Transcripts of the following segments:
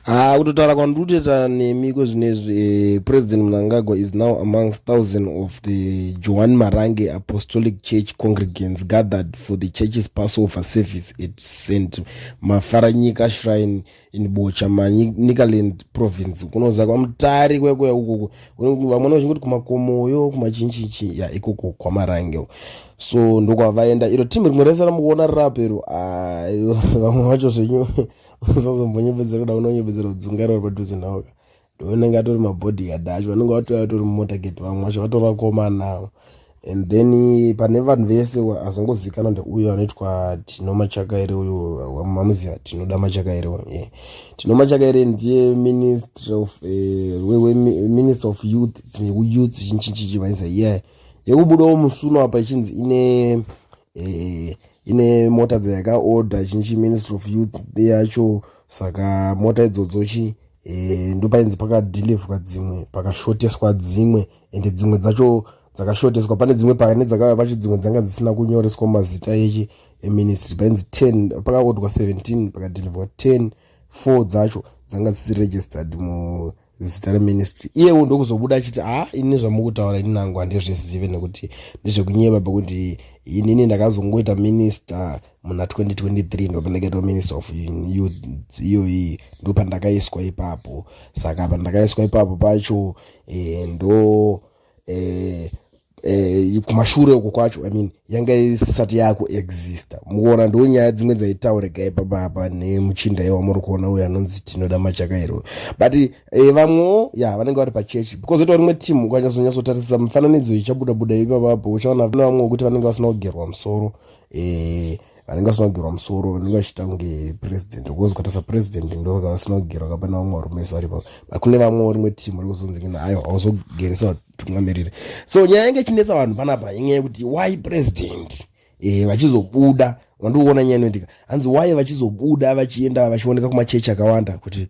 haa ah, kutotaura kwandiri kutoita nemi kwezvinezvi eh, president mnangagwa is now amongst thousand of the johan marange apostolic church congregants gathered for the church's passover service at st mafaranyika shrine in bocha manicaland province kunoza kwamutari kwekuya ukoko vamwe vachinge kuti kumakomoyo kumachinchichi ya ikoko kwamarange so ndokwavaenda iro team rimwe rese ramukuona rirapo iro ah, vamwe vacho zvenyu usazombonyepedzera kuda unonyepedzera kudzungaira uri padhuze nawoka ndounenge atori mabodyguard acho vanenge vatouya vatori mumotorgate vamwe vacho vatori vakomana avo and then pane vanhu vese azongozikana ndeuyo anoitwa tino machakaire uyo mamuziva tinoda machakaire ye tino machakaire ndiye minister of eh, minister of youth youth chinchinchichi vaisa ye yekubudawo musuno apa ichinzi ine eh, ine mota dzayakaorder chinchi ministry of youth yacho saka mota idzodzo chi eh, ndopainzi pakadelivwa dzimwe pakashoteswa dzimwe ende dzimwe dzacho dzakashoteswa pane dzimwe pane dzakauya pacho dzimwe dzanga dzisina kunyoreswa mazita echi eministry painzi 10 pakaodwa 17 pakadelivwa 10 4 dzacho dzanga dzisiri registered mu zita reministry iyewo ndokuzobuda achiti haa ini zvamukutaura ini nangu handizvizive nekuti ndezvekunyeba pekuti inini ndakazongoita minister muna 2023 ndopeneketwa minister of youth iyoyi ndopandakaiswa ipapo saka pandakaiswa ipapo pacho e, ndo eh, eh, kumashure uko kwacho i mean yanga isati yakuexista mukuona ndo nyaya dzimwe dzaitaurika ipapa apa nemuchinda iye wamuri kuona uyo anonzi tinoda machakairo but eh, vamwewo ya vanenge vari pachechi because itawo rimwe team ukanyazonyatsotarisisa mifananidzo ichabuda buda ipapa apo uchaona vamwe vamwe wekuti vanenge vasina kugerwa musoro eh, vanenge vasina kugerwa musoro vanenge vachiita kunge president because ukaita sapresident ndovanga vasina kugerwa kapana vamwe varume vari ipapo but kune vamwewo rimwe team vari kuzonzi kina aiwa hauzogeresa vatungamiriri so nyaya yange ichinetsa vanhu panapa inyaya yekuti why president e, vachizobuda vandiuona nyaya inoitika hanzi why vachizobuda vachienda vachioneka kumachechi akawanda kuti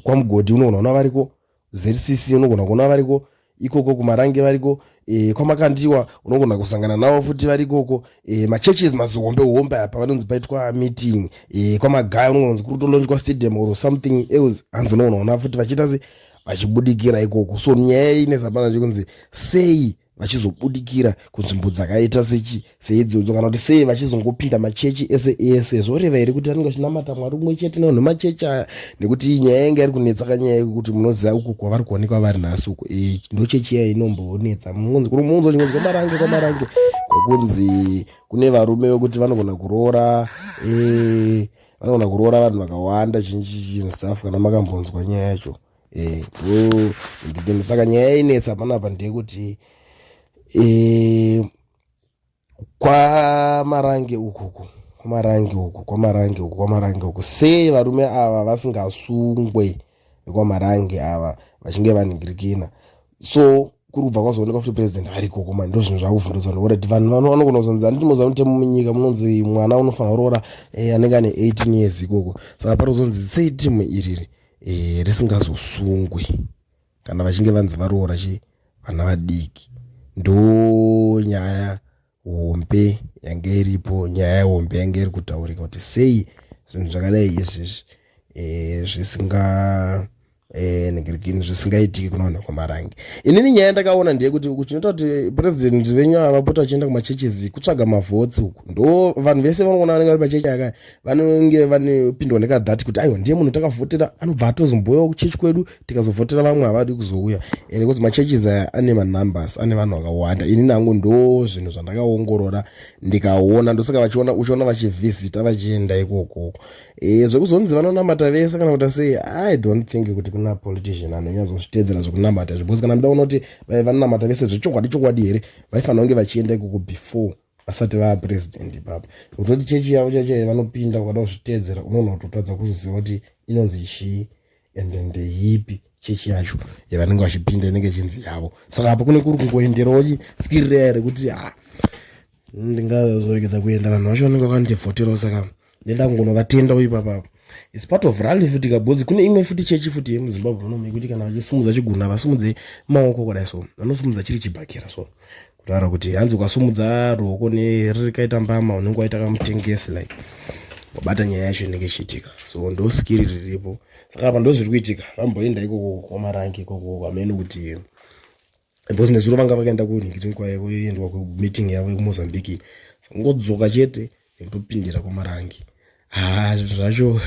kwamugodhi unogona kuona variko zcc unogona kuona variko ikoko kumarange variko e, kwamakandiwa unogona kusangana navo futi vari ikoko e, machurches mazihombe hombe apa vanonzi paitwa meeting e, kwamagaya unogona kunzi kuri kutolonjwa stadium or something else hanzi unogona kuona futi vachiita se vachibudikira ikoko so nyaya iyi nezapana chikunzi sei vachizobudikira kunzvimbo dzakaita sechi seidzodzo kana kuti sei vachizongopinda machechi ese ese zvoreva here kuti anenge achinamata mwari umwe chete nevanhu machechi aya nekuti nyaya yanga iri kunetsa kanyaya yekuti munoziva uko kwavari kuonekwa vari nhasi uko e, ndochechi iya inomboonetsa muunzo chingonzi kwamarange kwamarange kwekunzi kune varume vekuti vanogona kuroora e, vanogona kuroora vanhu vakawanda chinchi chinhu staff kana makambonzwa nyaya yacho eh, mm, saka nyaya yainetsa panapa ndeyekuti eh, kwamarange ukuku kwamarange uku kwamarange uku kwamarange uku sei varume ava vasingasungwe vekwamarange ava vachinge vaningirikina so kuri kubva kwazooneka kuti president variko koma ndo zvinhu zvakuvhundudzwa nokuti vanhu vanogona kuzonzi handiti moziva mutemo munyika munonzi mwana unofanira kuroora eh, anenge ane 18 years ikoko saka pari kuzonzi sei timu iriri e, risingazosungwi kana vachinge vanzi varoora chi vana vadiki ndo nyaya hombe yange iripo nyaya hombe yange iri kutaurika kuti sei zvinhu zvakadai izvezvi e, zvisinga Eh, negirigini zvisingaitiki kunoona kwamarange inini nyaya ndakaona ndeyekuti uku chinoita kuti president venyu avapota vachienda kumachurches kutsvaga mavhotsi uku ndo vanhu vese vanoona vanenge vari machechi akaya vanenge vanopindwa nekadhati kuti aiwa ndiye munhu takavhotera anobva atozomboyawo kuchechi kwedu tikazovhotera vamwe havadi kuzouya and because machurches aya ane manumbers ane vanhu vakawanda ini nangu ndo zvinhu zvandakaongorora ndikaona ndosaka vachiona uchiona vachivhisita vachienda ikoko e, zvekuzonzi vanonamata vese kana kuti sei i don't think kuti kuna politician anonyazozvitedzera zvekunamata zvibhozi kana mda unoti vanonamata vese zvechokwadi chokwadi here vaifanira kunge vachienda ikoko before vasati vaa president ipapa kutoti chechi yavo chachai vanopinda ukada kuzviteedzera unoona kutotadza kuzviziva kuti inonzi chii and ndeyipi chechi yacho yavanenge vachipinda inenge chinzi yavo saka apo kune kuri kungoenderawo chiskirira here kuti ha ndingazoregedza kuenda vanhu vacho vanenge vakandivhoterawo saka ndenda kungonovatenda uyu papapo its part of rally futi kabhozi kune imwe futi chechi futi yemuzimbabwe muno mekuti kana vachisumudza chiguna vasumudze maoko kudai so vanosumudza chiri chibhakira so kutaura kuti hanzi ukasumudza ruoko nerikaita mbama unenge waita kamutengesi like wabata nyaya yacho inenge ichiitika so ndo skiri riripo saka apa ndozviri kuitika vamboenda ikoko kwamarangi ikoko kwamene kuti because nezuro vanga vakaenda kuningitin kwaye kuendwa kumeeting yavo yekumozambique sangodzoka chete nekutopindira kwamarangi haa zvinhu zvacho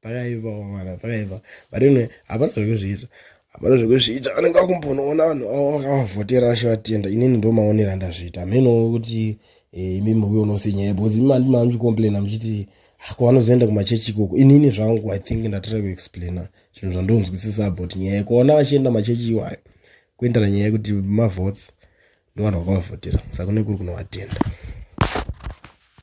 pakaiva mwana pakaiva but anyway hapana zvekuzviita hapana zvekuzviita vanenge vakumbonoona vanhu avo vakavavhotera vashe vatenda inini ndo maonero andazviita hamenowo kuti eh, imi muvi unose nyaya because imi mandi mamuchicomplaina muchiti ah, kwavanozoenda kumachechi ikoko inini zvangu i think ndatira kuexplaina chinhu zvandonzwisisa about nyaya yekuona vachienda machechi iwayo kuendera nyaya yekuti mavotes ndovanhu vakavavhotera saka nekuri kunovatenda